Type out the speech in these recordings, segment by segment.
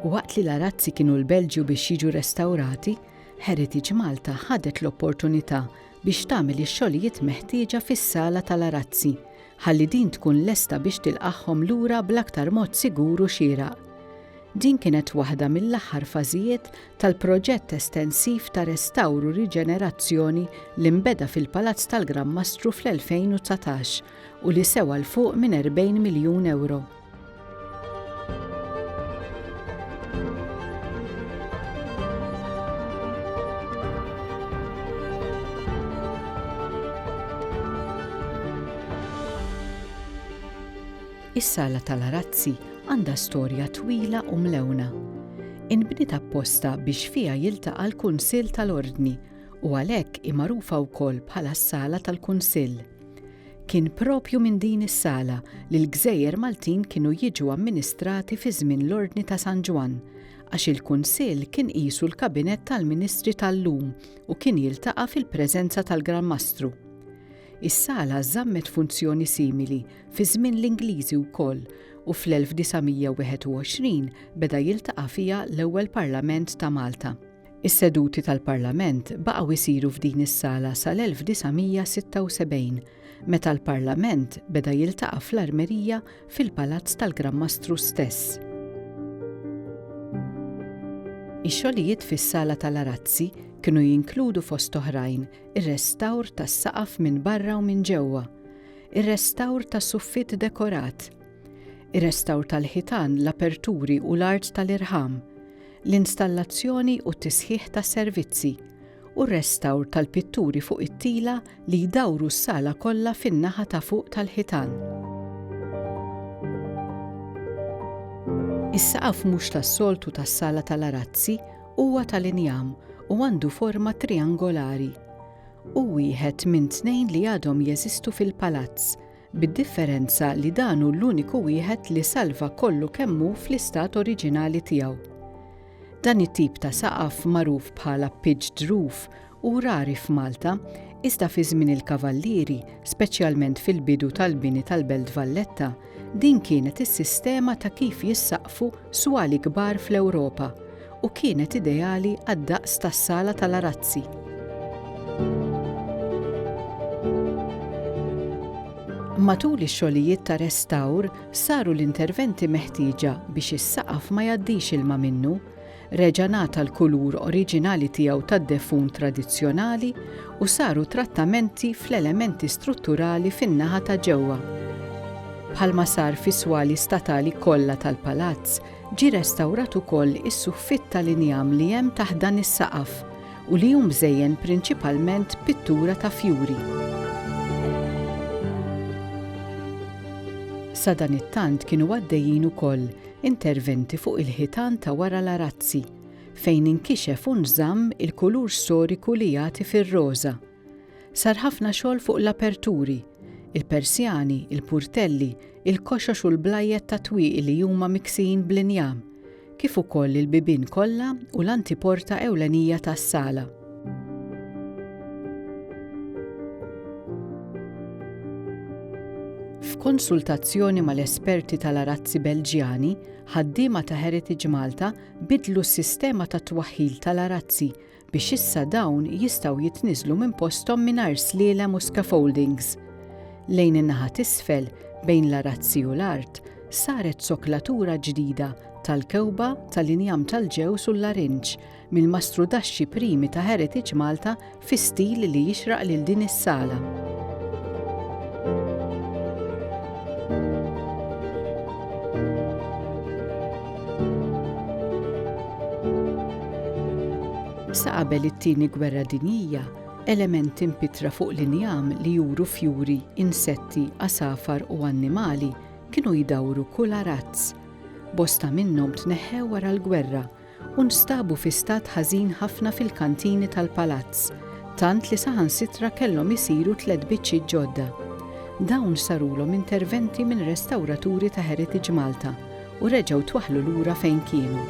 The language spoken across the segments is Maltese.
Waqt li l-arazzi kienu l-Belġju biex jiġu restawrati, Heritage Malta ħadet l-opportunità biex tagħmel ix-xogħlijiet meħtieġa fis-sala tal-arazzi ħalli din tkun lesta biex tilqagħhom lura bl-aktar mod sigur u xieraq. Din kienet waħda mill-aħħar fażijiet tal-proġett estensiv ta' restawr u riġenerazzjoni li nbeda fil-Palazz tal-Gran Mastru fl-2019 u li sewa 'l fuq minn 40 miljun ewro. Is-Sala tal-Arazzi għandha storja twila u mlewna. Inbniet apposta biex fiha jiltaqa' l-Kunsill tal-Ordni u għalhekk hi magħrufa wkoll bħala s-Sala tal-Kunsill. Kien propju minn din is-sala li l-gżejjer Maltin kienu jiġu amministrati fi żmien l-Ordni ta' San Ġwann, għax il-Kunsill kien qisu l-Kabinett tal-Ministri tal-lum u kien jiltaqa' fil-preżenza tal-Gran Mastru. Is-sala żammet funzjoni simili fi żmien l-Ingliżi wkoll u fl-1921 beda jiltaqa' fiha l-ewwel Parlament ta' Malta. Is-seduti tal-Parlament baqgħu jsiru f'din is-sala sal-1976 meta l-Parlament beda jiltaqa' fl-Armerija fil-Palazz tal-Gran Mastru stess. Ix-xogħlijiet fis-sala tal-arazzi kienu jinkludu fost oħrajn ir-restawr tas-saqaf minn barra u minn ġewwa, ir-restawr tas-suffitt dekorat, ir-restawr tal-ħitan, l-aperturi u l-art tal-irħam, l-installazzjoni u t-tisħiħ tas-servizzi, u r-restawr tal-pitturi fuq it-tila li jdawru s-sala kollha fin-naħa ta' fuq tal-ħitan. Is-saqaf mhux tas-soltu tas-sala tal-arazzi Huwa tal-injam u għandu forma triangolari. Hu wieħed minn tnejn li għadhom jeżistu fil-palazz, bid-differenza li dan hu l-uniku wieħed li salva kollu kemm hu fl-istat oriġinali tiegħu. Dan it-tip ta' saqaf magħruf bħala pitched roof Hu rari f'Malta, iżda fi żmien il-Kavallieri, speċjalment fil-bidu tal-bini tal-Belt Valletta, din kienet is-sistema ta' kif jissaqfu swali kbar fl-Ewropa u kienet ideali għad-daqs tas-sala tal-arazzi. Matul ix-xogħlijiet ta' restawr saru l-interventi meħtieġa biex is-saqaf ma jgħaddix ilma minnu, reġa' ngħata l-kulur oriġinali tiegħu tad-defun tradizzjonali u saru trattamenti fl-elementi strutturali fin-naħa ta' ġewwa. Bħalma sar fis-swali statali kollha tal-palazz, ġie restawrat ukoll is-suffitt tal-injam li hemm taħt dan is-saqaf u li hu mżejjen prinċipalment b'pittura ta' fjuri. Sadanittant kienu għaddejjin ukoll Interventi fuq il-ħitan ta' wara l-arazzi, fejn inkixef u nżamm il-kulur storiku li jagħti fir-roża. Sar ħafna xogħol fuq l-aperturi, il-persjani, il-purtelli, il-koxox u l-blajjed tat-twieqi li huma miksijin bl-injam, kif ukoll il-bibien kollha u l-antiporta ewlenija tas-sala. F'konsultazzjoni mal-esperti tal-arazzi Belġjani, ħaddiema ta' Heritage Malta bidlu s-sistema ta' twaħħil tal-arazzi biex issa dawn jistgħu jitniżlu minn posthom mingħajr slielem u scaffoldings. Lejn in-naħa t'isfel, bejn l-arazzi u l-art, saret soklatura ġdida tal-kewba tal-injam tal-ġews u l-larinġ mill-mastrudaxxi primi ta' Heritage Malta fi stil li jixraq lil din is-sala. Sa qabel it-tieni gwerra dinjija, elementi mpitra fuq l-injam li juru fjuri, insetti, għasafar u annimali kienu jdawru kull arazz. Bosta minnhom tneħħew wara l-gwerra u nstabu fi stat ħażin ħafna fil-kantini tal-palazz, tant li saħansitra kellhom isiru tliet biċċiet ġodda. Dawn sarulhom interventi minn restawraturi ta' Heritage Malta u reġgħu twaħħlu lura fejn kienu.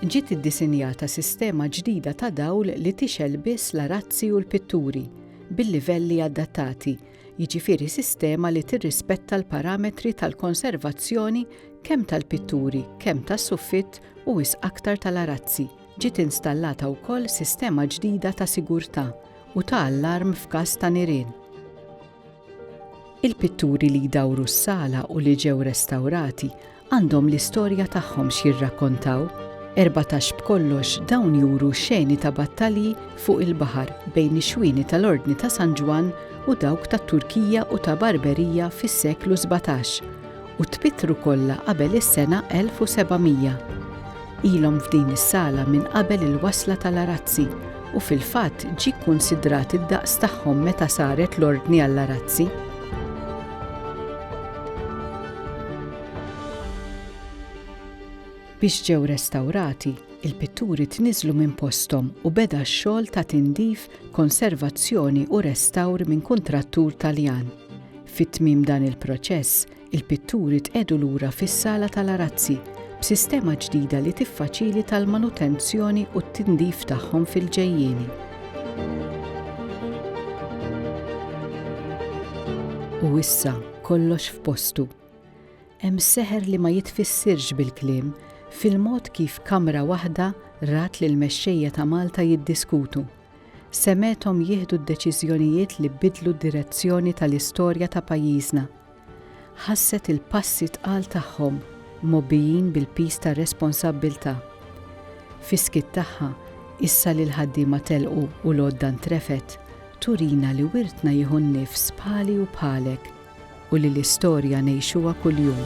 Ġiet iddisinjata sistema ġdida ta' dawl li tixgħel biss l-arazzi u l-pitturi, bil-livelli adattati, jiġifieri sistema li tirrispetta l-parametri tal-konservazzjoni kemm tal-pitturi, kemm tas-suffitt u wisq aktar tal-arazzi. Ġiet installata wkoll sistema ġdida ta' sigurtà u ta' allarm f'każ ta' nirien. Il-pitturi li jdawru s-sala u li ġew restawrati għandhom l-istorja tagħhom x'jirrakkontaw, erbatax b'kollox dawn juru xeni ta' battalji fuq il-baħar bejn ix-xwieni tal-Ordni ta' San Ġwann u dawk tat-Turkija u ta' Barberija fis-seklu sbatax u tpittru kollha qabel is-sena 1700. Ilhom f'din is-sala minn qabel il-wasla tal-arazzi u fil-fatt ġie kkunsidrat id-daqs tagħhom meta saret l-ordni għall-arazzi. Biex ġew restawrati, il-pitturi tniżlu minn posthom u beda x-xogħol ta' tindif, konservazzjoni u restawr minn kuntrattur Taljan. Fit-tmiem dan il-proċess, Il-pitturi tqegħdu lura fis-sala tal-arazzi b'sistema ġdida li tiffaċilita l-manutenzjoni u t-tindif tagħhom fil-ġejjieni. U issa kollox f'postu. Hemm seħer li ma jitfissirx bil-kliem fil-mod kif kamra waħda rat lil mexxejja ta' Malta jiddiskutu. Semgħethom jieħdu d-deċiżjonijiet li bidlu d-direzzjoni tal-istorja ta' pajjiżna. Ħasset il-passi tqal tagħhom mgħobbijin bil-piż tar-responsabbiltà. Fis-skiet tagħha, issa li l-ħaddiema telqu u l-għodda ntrefgħet, turina li wirtna jieħu n-nifs bħali u bħalek u li l-istorja ngħixuha kuljum.